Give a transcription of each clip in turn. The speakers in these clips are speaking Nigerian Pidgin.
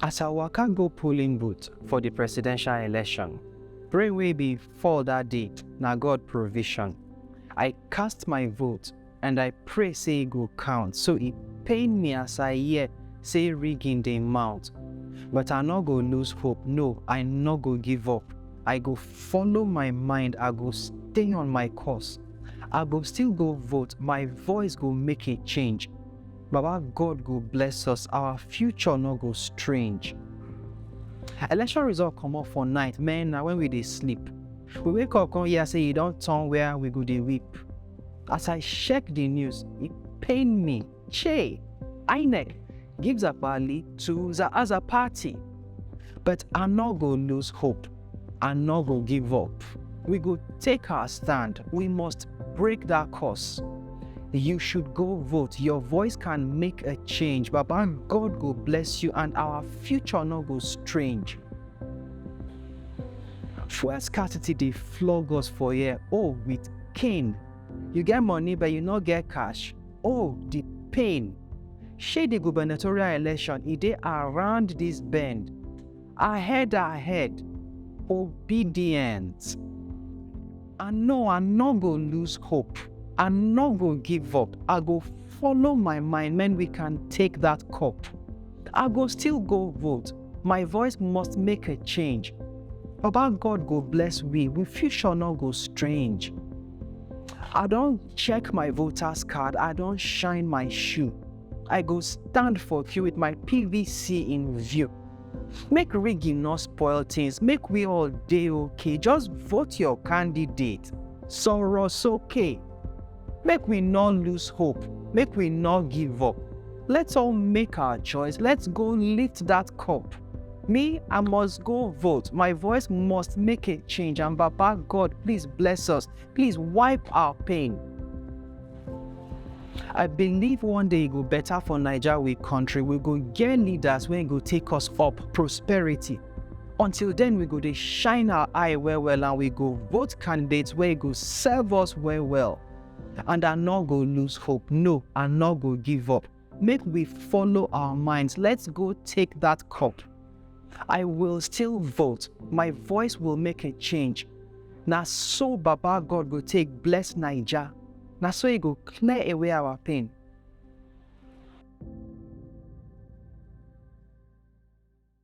As I waka go polling booth for the presidential election, rain wey be fall that day na God provision. I cast my vote and I pray say e go count so e pain me as I hear say rigging dey mount but I no go lose hope no I no go give up I go follow my mind I go stay on my course I go still go vote my voice go make a change Baba God go bless us our future no go strange election result comot for night man na when we dey sleep we wake up come hear say e don turn where we go dey weep As I check the news, it pained me. Che, INEC gives up Ali to the other party. But I no go lose hope. I no go give up. We go take our stand. We must break that curse. You should go vote. Your voice can make a change. Baba, God go bless you and our future no go strange. Fuel scarcity dey flog us for here, oh, with Cain, you get money but you no get cash. Oh, the pain. Shey the gubernatorial election e dey around this bend. Ahead, ahead. Obedience. I know I no go lose hope. I no go give up. I go follow my mind when we can take that cup. I go still go vote. My voice must make a change. Baba God go bless we, we future no go strange. I don check my voters card, I don shine my shoe. I go stand for queue with my PVC in view. Make rigging no spoil things, make we all dey okay, just vote your candidate. Sọ̀rọ̀ sókè. Make we no lose hope, make we no give up. Let's all make our choice, let's go lift that cup. Me, I must go vote. My voice must make a change. And Baba God, please bless us. Please wipe our pain. I believe one day it go better for Nigeria, we country. We go get leaders when go take us up prosperity. Until then, we go dey shine our eye well well and we go vote candidates wey go serve us well well. And I no go lose hope, no, I no go give up. Make we follow our minds, let's go take that cup. I will still vote, my voice will make a change. Na so Baba God go take bless Naija, na so e go clear away our pain.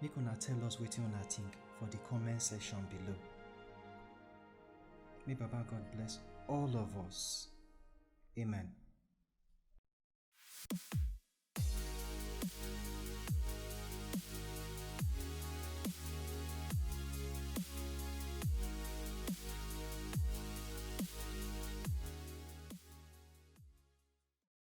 Make una tell us wetin una think for the comment section below. May Baba God bless all of us. Amen.